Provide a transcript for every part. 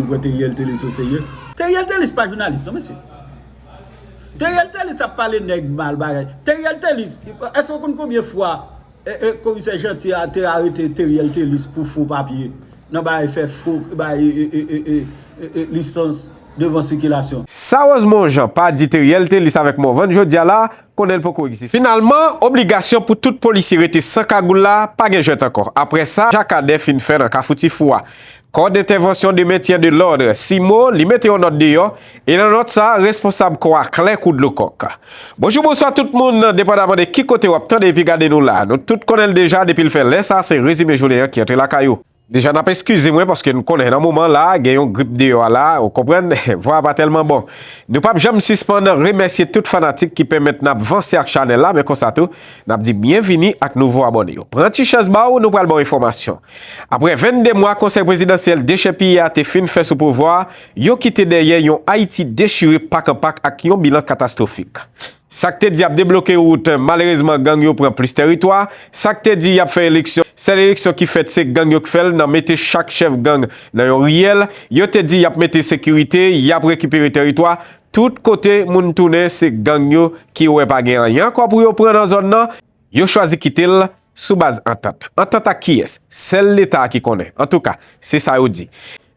Nou kwè Teriel Telus o serye? Teriel Telus pa jounalis non mesye. Teriel Telus ap pale nèg mal bagay. Teriel Telus, èske ou konn konbyen fwa komisè Jeanty a te arete Teriel Telus pou fo papye nan bagay fè fo bagay lisans devan sikilasyon? Sa Rosemond Jean pa di Teriel Telus avèk Morvan jodia la, konnen l poko egziste. Finalman, obligasyon pou tout polisye rete san kagoul la pa gen jwèt ankò aprè sa Jan Cadet fin fè nan Kafou Ti Fou a. Kò dentèvansyon de mentyen de lòd, CIMO, li mete yon nòt deyò, e nan nòt sa, responsab kò a klè kou dlo kòk. Bonjou bonswa tout moun, depandaman de ki kote wap tande epi gade nou la. Nou tout konnenl deja depil fè lè sa se rezime jounen an ki antre lakay ou. Deja nap eskize mwen paske nou konnen nan moman la gen yon grip deyò a la, ou konprann, vwa a pa tèlman bon. Nou pap janm sispann remèsye tout fanatik ki pèmèt nap vanse ak chanèl la men konsa tou, Nap di byen vini ak nouvo abòne yo. Pran ti chèz ba w nou pral ba w enfòmasyon. Aprè 22 mwa konsèy prezidansyèl dechèpiye a te fin fè sou pouvwa a, yo kite dèyè yon Ayiti dechire pak an pak ak yon bilan katastwofik. Sa k te di y ap debloke wout, malerezman gang yo pran plis tèritwa, sa k te di y ap fè eleksyon, sèl eleksyon ki fèt se gang yo k fè l nan mete chak chèf gang nan yon riyèl, yo te di y ap mete sekirite, y ap rekipere tèritwa, Tout kote moun tounen se gang yo ki wè pa gen anyen ankò pou yo pran nan zòn nan, yo chwazi kite l sou baz antant. Antant ak kiyès? Sèl Leta a ki konnen. Antouka, se sa yo di.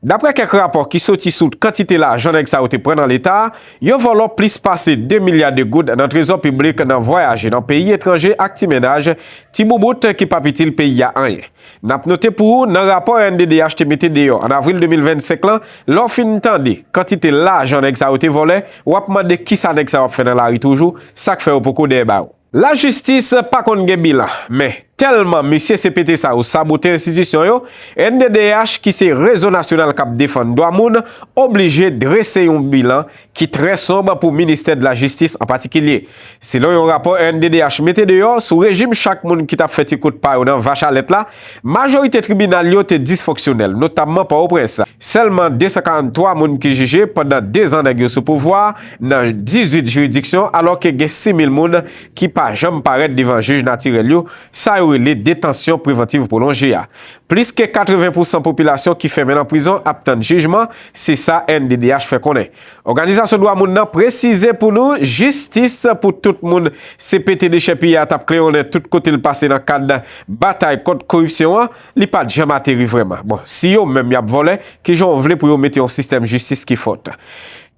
Daprè kèk rapò ki soti sou kantite lajan nèg sa yo te pran nan Leta, yo vòlò plis pase 2 milya de goud nan trezò piblik nan vwayaje nan peyi etranje ak ti mennaj, ti boubout ki p ap itil peyi a anyen. N ap note pou ou, nan rapò rnddh te mete deyò an avril 2025 lan, lè w fin tande kantite lajan nèg sa yo te vòlè, w ap mande ki sa nèg sa yo ap fè nan lari toujou, sa k fè yo poko dèyè baro. Lajistis pa konn gen bilan, men, tèlman mesye CPT sa yo sabote enstitisyon yo, rnddh ki se Rezo Nasyonal k ap Defann Dwa Moun oblije drese yon bilan ki trè sonb pou ministè de la jistis an patikilye. Selon yon rapò rnddh mete deyò sou rejim chak moun ki t ap fè ti kout pa yo nan vach a lèt la, majorite tribinal yo te disfonksyonèl, notamman Pòtoprens. Sèlman 243 moun ki jije pandan 2 zan nèg yo sou pouvwa a nan 18 jiridiksyon alò ke gen 6 mil moun ki pa janm parèt devan jij natirèl yo, sa yo rele detansyon prevantiv pwolonje a. Plis ke 80 pousan popilasyon ki fèmen nan prizon ap tann jijman, se sa NDDH fè konnen. Òganizasyon dwa moun nan presize pou nou jistis pou tout moun CPT dechèpiye a t ap klewonnen tout kote l pase nan kad batay kont koripsyon an, li pa t janm ateri vrèman. Bon, si yo menm y ap vòlè, kijan w vle pou yo mete yon sistèm jistis ki fòt?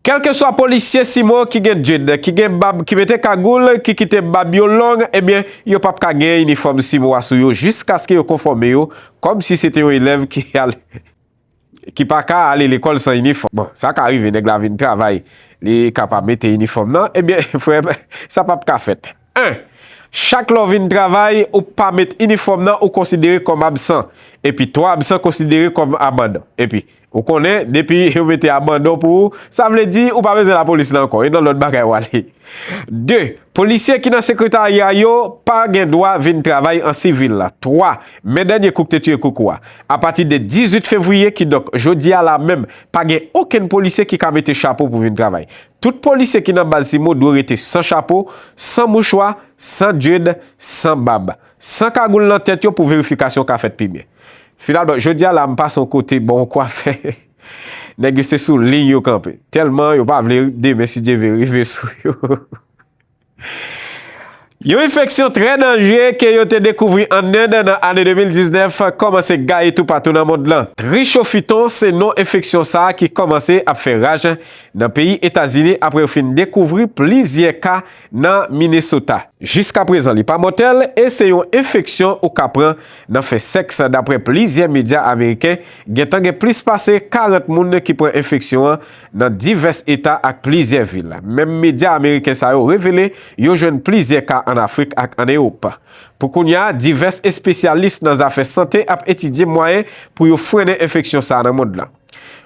Kèlkeswa polisye Simon ki gen djed, ki gen bab, ki mete kagoul, ki kite bab yo long, ebyen yo pap ka gen inifòm Simon a sou yo jiskaske yo konfòme yo kòm si se te yon elèv ki ale ki pa ka ale lekòl san inifòm. Bon, sa ka rive nèg la vin travay li ka pa mete inifòm nan, ebyen frè m sa pap ka fèt. 1, Chak lè w vin travay ou pa met inifòm nan ou konsidere kòm absan, epi 3 absan konsidere kòm abandon. Epi. Ou konnen, depi yo mete abandon pou ou, sa vle di ou pa bezwen lapolis la ankò, e nan lòt bagay w ale. 2, Polisye ki nan sekretarya yo pa gen dwa vin travay an sivil. 3, Men dènye kou k te tiye koukou a. Apati de 18 fevriye, kidonk jodi a la menm, pa gen okenn polisye ki ka mete chapo pou vin travay. Tout polisye ki nan baz Simo dwe rete san chapo, san mouchwa, san dyed, san bab. San kagoul nan tèt yo pou verifikasyon ka fèt pi byen. Finalman, jodi a la m pase yon kote bò yon kwafè, nèg yo se sou liy yo kanpe. Tèlman yo pa vle demen si Dye vle rive sou yo. Yon enfeksyon trè danjre ke yo te dekouvri an End nan ane 2019 kòmanse gaye toupatou nan mond lan. Trichophyton se non enfeksyon sa ki kòmanse ap fè raj nan peyi Etazini apre yo fin dekouvri plizyè ka nan Minnesota. Jiskaprezan li pa mòtèl e se yon enfeksyon ou ka pran nan fè sèks daprè plizyè medya ameriken, gentan gen plis pase 40 moun ki pran enfeksyon an nan divès eta ak plizyè vil. Menm medya ameriken sa yo revele yo jwenn plizyè ka an Afrik ak an Ewop. Pou kounya, divès espesyalis nan zafè sante ap etidye mwayen pou yo frennen enfeksyon sa nan mond lan.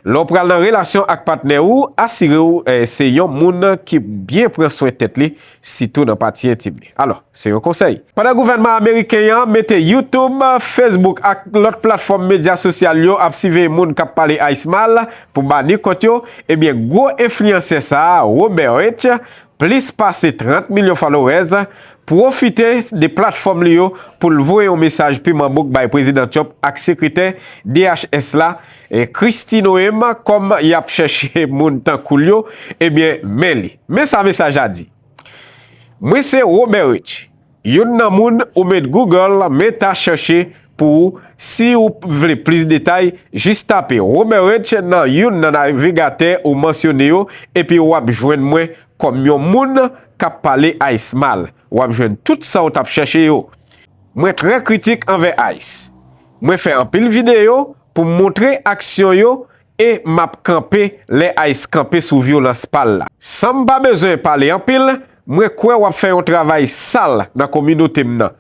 Lè w pral nan relasyon ak patnè ou, asire w se yon moun ki byen pran swen tèt li, sitou nan pati entim li. Alò, se yon konsèy. Pandan gouvènman ameriken an mete YouTube, Facebook ak lòt platfòm medya sosyal yo ap siveye moun k ap pale ice mal pou bani kont yo, ebyen gwo enfliyansè sa a, Robert Rich, Plis pase 30 milyon followers pwofite de platfòm li yo pou l voye yon mesaj piman bouk bay Prezidan Trump ak sekretè DHS la, Kristi Noem kòm y ap chèche moun tankou l yo, ebyen men li. Men sa mesaj la di, Mwen se Robert Rich. Youn nan moun ou met Google Meta chèche pou ou si ou vle plis detay, jis tape Romerich nan youn nan navigatè ou mansyone yo epi w ap jwenn mwen kòm yon moun k ap pale ice mal. W ap jwenn tout sa ou t ap chèche yo. Mwen trè kritik anvè ice. Mwen fè anpil videyo pou m montre aksyon yo e map kanpe lè ice kanpe sou vyolans pal la. Sanm pa bezwen pale anpil, mwen kwè wap fè yon travay sal nan kominotem nan,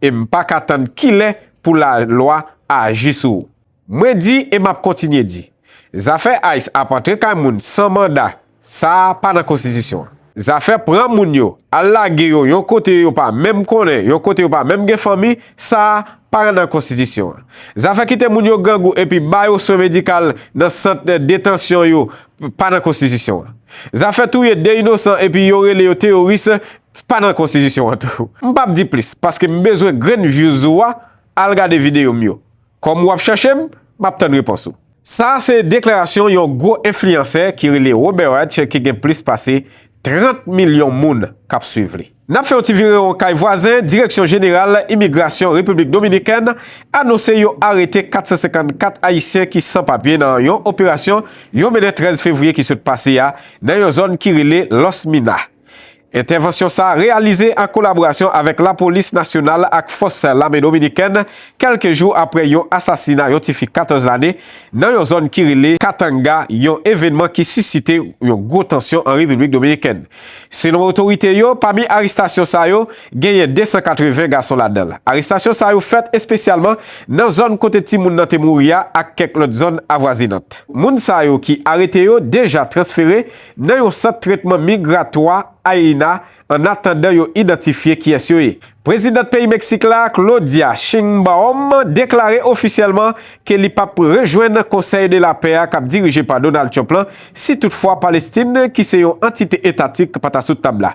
em paka tann kilè pou la lwa aji sou ou. Mwen di e map kontinye di, zafè ice ap antre kay moun san manda Sa a pa nan konstitisyon an. Zafè pran moun yo, al lage yo yon kote yo pa menm konnen, yon kote yo pa menm gen fanmi, sa a pa nan konstitisyon an. Zafè kite moun yo grangou epi ba yo swen medikal nan sant detansyon yo pa nan konstitisyon an. Zafè touye 2 inosan epi yo rele yo teyoris pa nan konstitisyon an tou. M pap di plis paske m bezwen grenn vyouz ou a, al gade videyo m yo. Kòm ou ap chèche m, m ap tann repons ou. Sa a se deklarasyon yon gwo enfliyansè ki rele Roberwatch ki gen plis pase 30 milyon moun k ap swiv li. N ap fè yon ti virewon kay vwazen, Direksyon Jeneral Imigrasyon Repiblik Dominikèn anonse yo arete 454 ayisyen ki san papye nan yon operasyon yo mennen 13 fevriye ki sot pase a nan yon zòn ki rele Los Minas. Entèvansyon sa a reyalize an kolaborasyon avèk lapolis nasyonal ak fòs lame dominikèn kèlke jou aprè yon asasina yon ti fi 14 lane nan yon zòn ki rele Katanga, yon evènman ki sisite yon gwo tansyon an Repiblik Dominikèn. Selon otorite yo, pami arestasyon sa yo, genyen 280 gason ladan. Arestasyon sa yo fèt espesyalman nan zòn kote timoun nan te mouri a ak kèk lòt zòn avwazinant. Moun sa yo ki arete yo deja transfere nan yon sant tretman migratwa Aina an atandan yo idantifye kiyès yo ye. Prezidant peyi Meksik la, Claudia Sheinbaum deklare ofisyèlman ke li pap rejwenn Conseil de la Paix a kap dirije pa Donald Trump lan si tout fwa Palestin ki se yon antite etatik pa ta sou tab la.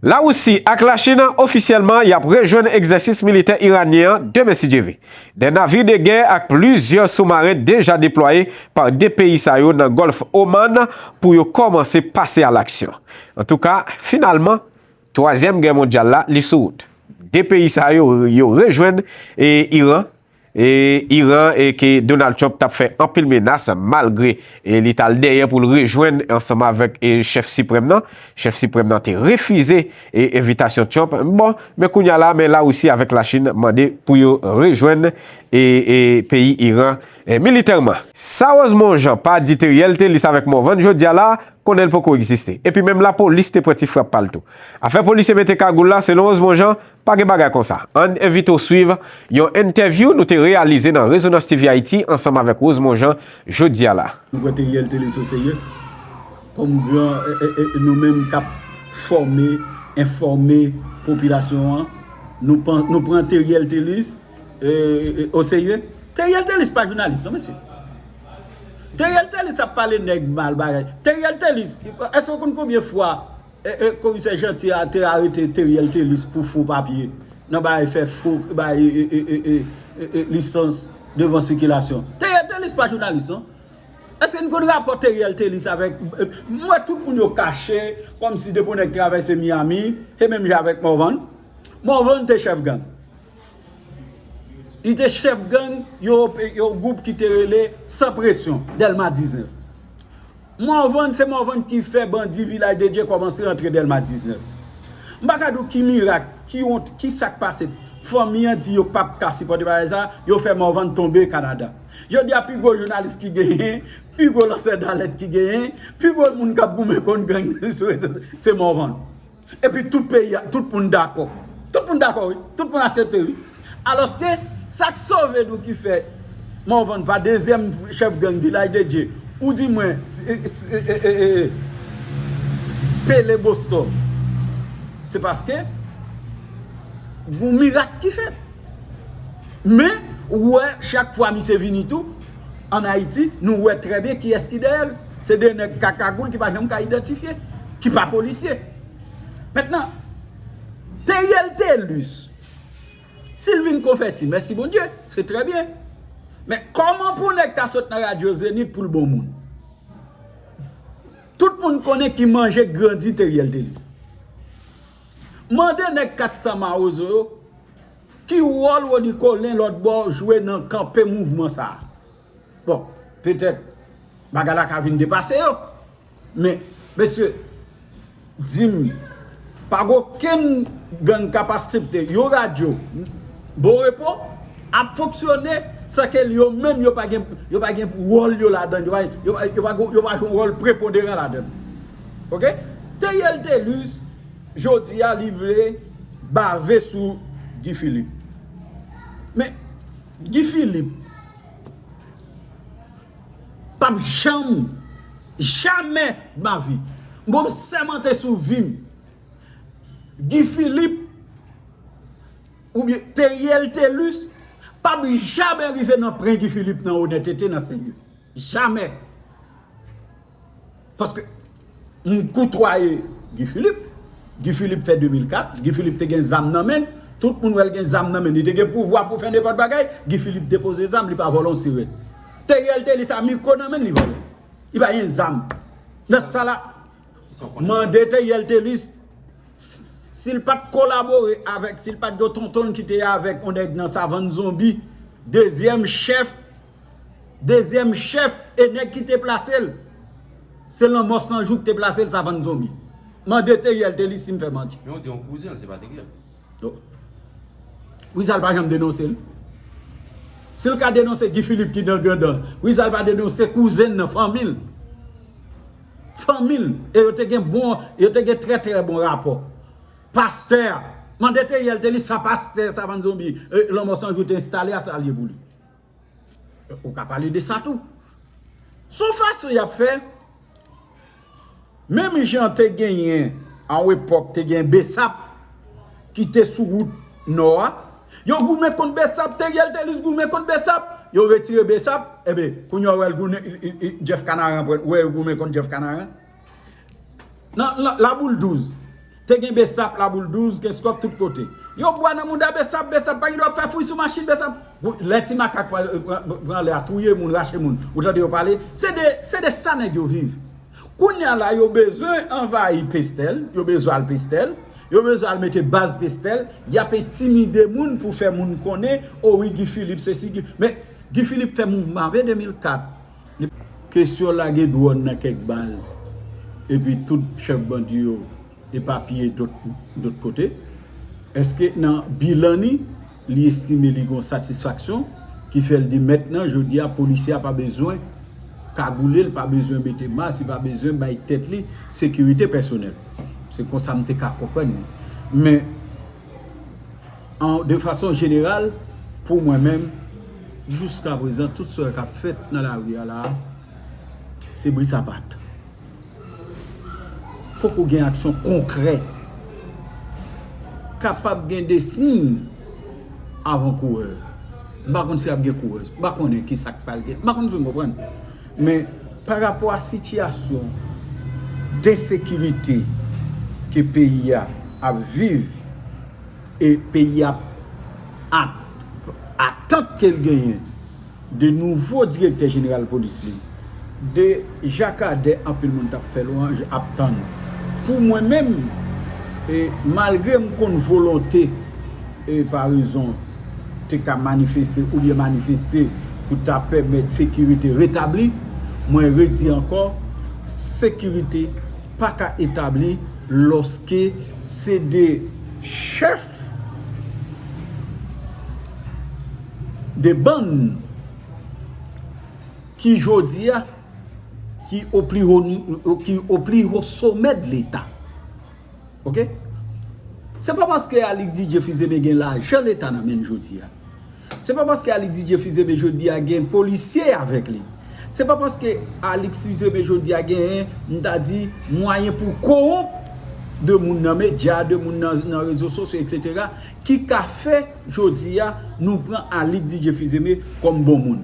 Larisi ak Lachin ofisyèlman yap rejwenn egzèsis militè Iranyen an demen si Dye ve. Des navires de guerre ak plizyè soumaren deja deplwaye pa 2 peyi sa yo nan Gòlf Oman pou yo kòmanse pase a laksyon. Antouka, finalman, twazyèm gè mondyal la, li sou wout. 2 peyi sa yo, yo rejwenn Iran, Iran ke Donald Trump tap fè anpil menas malgre li tal dèyè pou l rejwenn ansanm avèk chèf siprèm nan. Chèf siprèm nan te refize. E envitasyon Trump bon, men kounya la men Larisi avèk Lachin mande pou yo rejwenn e e peyi Iran e militèman. Sa Rose Monjean pa di Theriel Thélice avèk Morvan jodia la, konnen l poko egziste. Epi menm lapolis te pran ti frap pa l tou. Afè polisye mete kagoul la, selon Rose Monjean, pa gen bagay konsa. Ann envite w swiv yon entèvyou nou te reyalize nan Rezonans TV Ayiti ansanm avèk Rose Monjean jodia la. Nou pran Theriel Thélice o serye? Kòm gran nou menm kap fòme, enfòme popilasyon an, nou pran Theriel Thelus o serye? Theriel Thelus pa jounalis non mesye. Theriel Thelus ap pale nèg mal bagay. Theriel Thelus, èske ou konn konbyen fwa komisè Jeanty a te arete Theriel Thelus pou fo papye nan bagay fè fo bagay lisans devan sikilasyon? Theriel Thelus pa jounalis non. Eske n konn rapò Theriel Thelus avèk, m wè tout moun yo kache kòmsi depi yon nèg travèse Miami, se menm jan avèk Morvan, Morvan te chèf gang. Li te chèf gang yon gwoup ki te rele Sans Pression, Dèlma 19. Morvan, se Morvan ki fè bandi Vilaj de Dye kòmanse rantre Dèlma 19. M pa ka di w ki mirak, ki wont, ki sa k pase, fanmi an di yo pa p ka sipòte bagay sa, yo fè Morvan tonbe Kanada. Jodi a pi gwo jounalis ki genyen, pi gwo lansè dalèt ki genyen, pi gwo moun k ap goumen kont gang sou rezo sosyo, se Morvan. E pi tout peyi a, tout moun dakò. Tout moun dakò wi, tout moun aksepte wi. Alòske, sa k sove nou ki fè Morvan pa dezyèm chèf gang Vilaj de Dye, ou di mwen Pele Bostò, se paske gon mirak ki fèt. Men, ou wè, chak fwa misye vini tou, an Ayiti, nou wè trè byen kiyès ki dèyè l. Se de nèg ka kagoul ki pa janm ka idantifye, ki pa polisye. Mentnan, Theriel Thelus, si l vin konvèti, mèsi Bondye, se trè byen. Men, kòman pou nèg ta sot nan radyo Zenith pou l bon moun? Tout moun konnen ki manje k grandi Theriel Thelus. Mande nèg 400 mawozo yo, Ki wòl Rony Colin lòtbò jwe nan kanpe mouvman sa a? Bon, petèt bagay la ka vin depase yo. Men, mesye, di m, pa gen okenn gang k ap asepte yon radyo Bon Repo ap fonksyone san ke yo menm yo pa gen wòl yo ladann, yo pa jwe yon wòl preponderan ladann. Ok? Theriel Thelus. Jodi a li vle bave sou Guy Philippe. Men Guy Philippe pap janm, jamè dmavi, mwen sèmante sou vi m, Guy Philippe oubyen Theriel Thelus pap jamè rive nan pren Guy Philippe nan onètete, nan serye. Jamè. Paske m koutwaye Guy Philippe. Guy Philippe fè 2004, Guy Philippe te gen zam nan menn, tout moun wè l gen zam nan menn, li te gen pouvwa pou fè nenpòt bagay, Guy Philippe depoze zam, li pa vòlò yon sirèt. Theriel te li sa mikwo nan menn li vòlò. Li pa gen zam. Nan sa la, mande Theriel Thelus, si l pa t kolabore avèk, si l pa t gen yon tonton l ki te avèk yon nèg nan savann zonbi, dezyèm chèf. Dezyèm chèf e nèg ki te plase l, se lanmò san jou ki te plase l savann zonbi. Mande Teriel te li si m fè manti. Men ou di yon kouzen l se pa Teriel. Poukisa l pa janm denonse l? Si l ka denonse Guy Philippe ki nan Grandans, poukisa l pa denonse kouzen l nan, fanmi l? Fanmi l e yo te gen bon, yo te gen trè trè bon rapò. Pastè a, mande Teriel te li sa pastè savann zonbi, lanmò san jou te enstale a sa l ye pou li. Ou ka pale de sa tou. Son fason y ap fè, menm jan te genyen a yon epòk te gen Bsap ki te sou wout nò a, yo goumen kont Bsap, Theriel Thelus goumen kont Bsap, yo retire Bsap, enben, kounye a ou wè l goumen, Jeff Canaran pran, ou wè yo goumen kont Jeff Canaran. Nan laboul 12 Te gen besap laboul 12 Kenskof tout kote Yo bwa nan mouda besap Besap pa gen dwa ap fè fouy sou machin Besap Lè ti makak pran anlè a touye moun rache moun Ou tande yo pale Se de se de sa nèg yo viv Kounya la yo bezwen anvayi Pestèl Yo bezwen al Pestèl Yo bezwen al mete baz Pestèl Y ap entimide moun pou fè moun konnen O wi Guy Philippe sesi Guy Men Guy Philippe fè mouvman vre 2004 Kesyon lage dwòn nan kèk baz epi tout chèf bandi yo epapiye dòt kote, èske nan bilan ni li estime li gon satisfaksyon ki fè l di mètnan jodi a polisye a pa bezwen kagoule l pa bezwen mete mas li pa bezwen bay tèt li sekirite pèsonèl? Se konsa m te ka konprann li. Men. de fason jeneral pou mwen menm jiska prezan tout sa kap fèt nan lari a la se bri sapat poko gen aksyon konkrè kapab gen de siy avan koure m pa konn si ap gen koure m pa konnen kisak pral gen m pa konn si nou konprann. Men, pa rapò a sitiyasyon densekirite ke peyi a ap viv e peyi a ap atant ke l genyen de nouvo direktè jeneral polis li, de jakadè anpil moun t ap fè lwanj, ap tann. Pou mwen menm, malgre m konn volonte Eparezon te ka manifeste oubyen manifeste pou ta pèmèt sekirite retabli. Mwen redi ankò, sekirite pa ka etabli lòske se 2 chèf de bann ki jodi a ki o pli ho somè de leta. Ok Se pa paske Aly Didier Fils-Aimé gen lajan leta nan menl jodi a. Se pa paske Aly Didier Fils-Aimé jodi a gen polisye avèk li. Se pa paske Alix Fils-Aimé jodi a genyen m ta di mwayen pou kowonp de moun nan medya, de moun nan rezo sosyo etc. Ki ka fè jodi a nou pran Aly Didier Fils-Aimé kòm bon moun.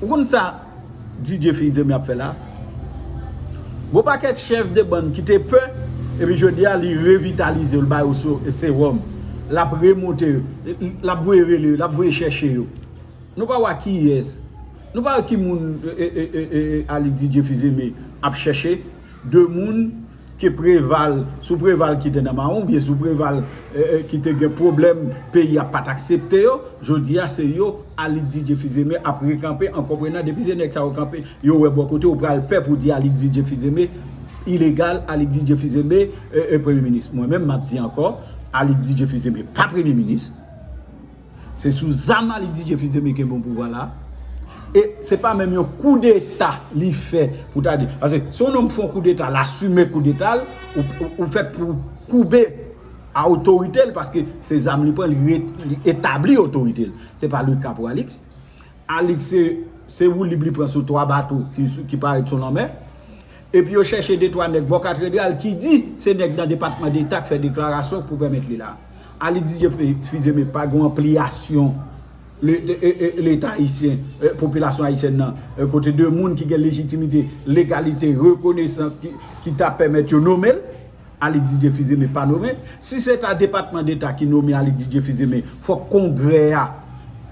Ou konn sa Didier Fils-Aimé ap fè la? Gwo pakèt chèf de bann ki te pè epi jodi a li revitalize yo, li ba yo sewòm, l ap remonte yo, l ap voye rele yo, l ap voye chèche yo. Nou pa wè kiyès, nou pa wè ki moun Aly Didier Fils-Aimé ap chèche? 2 moun ke preval sou preval kite nan maron oubyen sou preval kite gen pwoblèm peyi a pat aksepte yo jodi a se yo Alix Didier Fils-Aimé ap rekanpe an konprenan depi se nèg sa yo kanpe yo wè bò kote yo pral pè pou di Alix Didier Fils-Aimé ilegal Alix Didier Fils-Aimé premye minis mwen menm map di ankò Alix Didier Fils-Aimé pa premye minis. Se sou zam la li di Jefri Temeke bon pouvwa la. E se pa menm yon kou deta li fè pou ta di. Pase se yon nonm fon kou deta, l asime kou deta l, ou fèt pou ou koube a otorite l paske se zam li pran li etabli otorite l. Se pa Luc Capoalix. Alix se se woulib li pran sou 3 bato ki parèt sou lanmè. Epi yo chèche de twa nèg bò katredral ki di se nèg nan Depatman Deta k fè deklarasyon pou pèmèt li la. Alix Didier Fils-Aimé pa gen yon anpliyasyon Leta ayisyen, popilasyon ayisyèn nan, kote de moun ki gen lejitimite, legalite, rekonesans ki ta pèmèt yo nome l. Alix Didier Fils-Aimé pa nome, si se ta depatman deta ki nome Alix Didier Fils-Aimé fòk kongrè a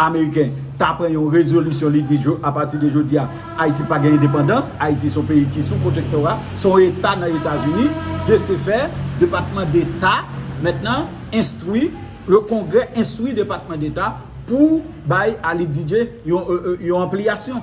ameriken ta pran yon rezolisyon li di a pati de jodi a Ayiti pa gen endepandans, Ayiti son peyi ki sou pwotektora, son eta nan Etazini, de se fè depatman deta mèt nan enstwi, le kongrè enstwi depatman deta pou bay Alix Didier yon anpliyasyon.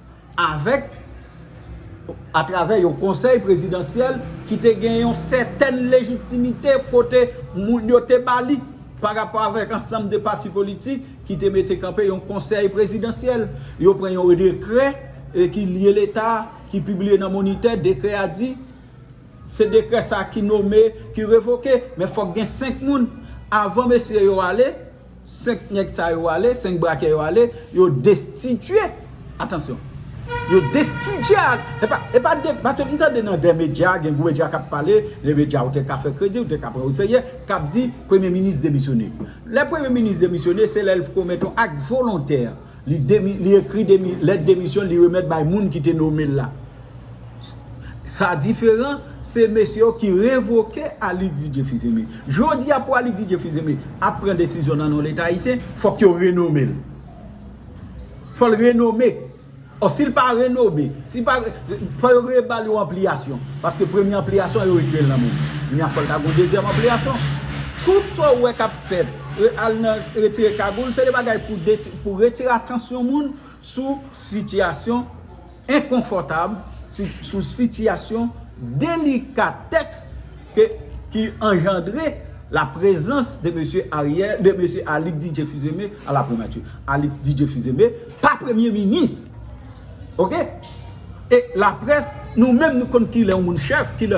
avèk atravè yon konsèy prezidansyèl ki te gen yon sètèn lejitimite kote moun yo te ba li pa rapò avèk ansanm de pati politik ki te mete kanpe yon konsèy prezidansyèl yo pran yon dekrè ki lye leta ki pibliye nan monitè dekrè a di se dekrè sa ki nome ki revoke men fòk gen 5 moun avan mesye yo ale 5 nèg sa yo ale, 5 brakè yo ale, yo destitye, atansyon, yo destitye a, e pa, e pa de, pase m tande nan de medya, gen gwo medya k ap pale, de medya ou te ka fè kredi, ou te ka pran o serye, k ap di, premye minis demisyone. Lè premye minis demisyone, se lè l fkon mèt on ak volontè. Li ekri lèt demisyon l li remèt bay moun ki te nome l la. Sa diferan, se mesye yo ki revoke Alix Didier Fils-Aimé. Jodi a pou Alix Didier Fils-Aimé ap pran desizyon nan non Leta Ayisyen, fòk yo renome l. Fò l renome. Ò si l pa renome, si l pa, fò yo reba l yon anpliyasyon. Paske premye anpliyasyon an yo retire l nan men l. Kounye a fò l ta gen yon dezyèm anpliyasyon. Tout sa w wè k ap fèt. Al nan retire kagoul se de bagay pou retire atansyon moun sou sitiyasyon enkonfòtab, sou sitiyasyon delikatèks ki anjandre la prezans de mesye Ariel, de mesye Alix Didier Fils-Aimé a la primati. Alix Didier Fils-Aimé pa premye minis. Ok? E laprès nou menm nou konn kilè yon moun chèf, kilè.